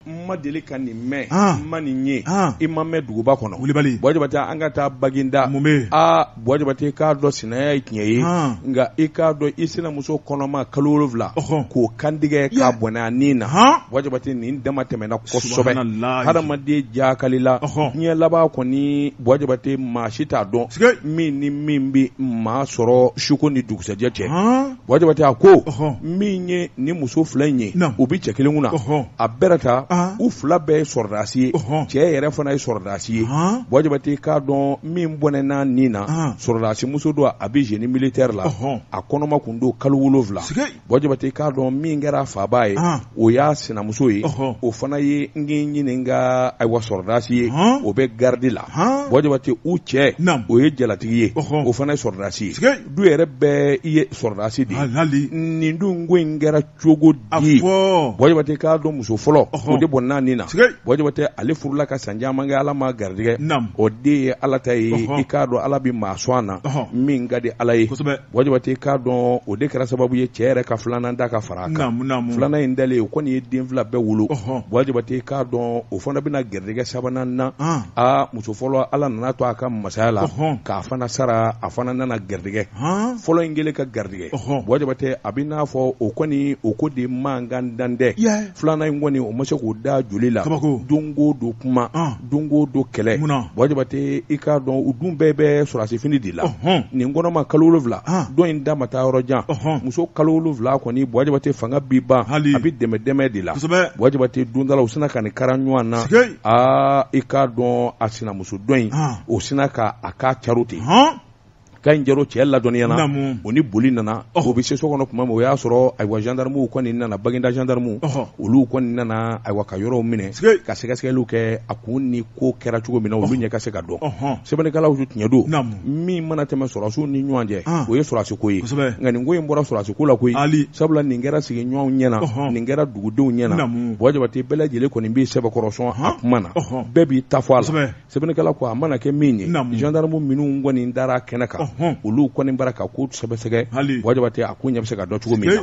n ma deli ka nin mɛn Ah. n ma nin ye Ah. i ma mɛn duguba kɔnɔ Wulibali. Buwa Jabate an ka taa baginda Mun bɛ yen? aa Buwa Jabate k'a dɔn sinaya ye tiɲɛ ye Ah. nka i k'a dɔn i sinamuso kɔnɔma kalo wolonwula Ɔhɔn. k'o kantigɛ Ya. k'a bɔnɛ a ni na Han. Buwa Jabate nin dama tɛmɛna kosɛbɛ Subhanalahi. hadamaden jakalila Ɔhɔn. diɲɛ laban kɔni Buwa Jabate maa si t'a dɔn Sike. min ni min bɛ maa sɔrɔ suko ni dugusɛjɛ cɛ Han. Buwa Jabate a ko min ye ni muso fila in ye u bɛ cɛ kelen kun na a bɛɛ ta u fila bɛɛ ye sɔrɔdasi ye cɛ yɛrɛ fana ye sɔrɔdasi ye Buwa Jabate k'a dɔn min bɔnɛn'a ni na sɔrɔdasi muso don a bɛ génie militaire la a kɔnɔma kun don kalo wolonwula Buwa Jabate k'a dɔn min kɛra faabaa ye o y'a sinamuso ye o fana ye n ɲininka ayiwa sɔrɔdasi ye o bɛ garidi la Buwa Jabate u cɛ o ye jalatigi ye o fana ye sɔrɔdasi ye du yɛrɛ bɛɛ i ye sɔrɔdasi de ye Hal- hali nin dun ko in kɛra cogo di Buwa Jabate k'a dɔn muso fɔlɔ Ɔhɔn. o de bɔnɛn'a ni na Sike. Buwa Jabate ale furula ka san caman kɛ ala m'a garijɛgɛ Naam. o de ye ala ta ye Ɔhɔn. i k'a dɔn ala bɛ maa sɔn a na Ɔhɔn. min ka di ala ye kosɛbɛ Buwa Jabate k'a dɔn o de kɛra sababu ye cɛ yɛrɛ ka filanan da ka fara a kan naamu naamu filanan in dalen o kɔni ye den fila bɛɛ wolo Ɔhɔn. Buwa Jabate k'a dɔn o fana bɛna garijɛgɛ sabanan na Ah. aa muso fɔlɔ ala nana to a ka masaya la k'a fana sara a fana nana garijɛgɛ fɔlɔ in kɛlen ka garijɛgɛ Buwa Jabate a bɛ n'a fɔ o kɔni o ko de mankan dan tɛ filanan in kɔni o ma se k'o da joli la don go don kuma don go don kɛlɛ Buwa Jabate i k'a dɔn u dun bɛɛ bɛ sɔrɔdasifini de la nin kɔnɔma kalo wolonwula don in da ma taa yɔrɔ jan muso kalo wolonwula kɔni Buwa Jabate fanga bi ban a bɛ dɛmɛ dɛmɛ de la Buwa Jabate don dɔ la u sina ka nin kara ɲɔgɔn na aa i k'a dɔn a sinamuso dɔ in Han. o sina ka a k'a caron ten hɔn ka nin caron cɛ ladɔnniyana Naamu. o ni boli nana o bɛ se so kɔnɔ tuma min o y'a sɔrɔ ayiwa gendarmew kɔni nana baginda gendarmew Ɔhɔ. olu kɔni nana ayiwa ka yɔrɔw minɛ Sike. ka sɛgɛsɛgɛliw kɛ a kun ni ko kɛra cogo min na olu ɲɛ ka se ka dɔn Ɔhɔn. sɛbɛnnikɛlaw tiɲɛ don Naamu. min mana tɛmɛ sɔrɔdasiw ni ɲɔgɔn cɛ Ah. o ye sɔrɔdasi ko ye Kosɛbɛ. nka nin ko in bɔra sɔrɔdasi ko la koyi Ali. sabula nin kɛra sigiɲɔgɔnw ɲɛna Ɔhɔn. nin kɛra dugudenw ɲɛna Buwa Jabate bɛɛ lajɛlen kɔni b'i sɛbɛkɔrɔ sɔn a kuma na bɛɛ b'i ta fɔ a la sɛbɛnnikɛla ko a mana kɛ min ye gendarmew minnu kɔni dara kɛnɛ kan olu kɔni b'a ra ka ko sɛgɛsɛgɛ Buwa Jabate a ko ɲɛ bɛ se ka dɔn cogo min na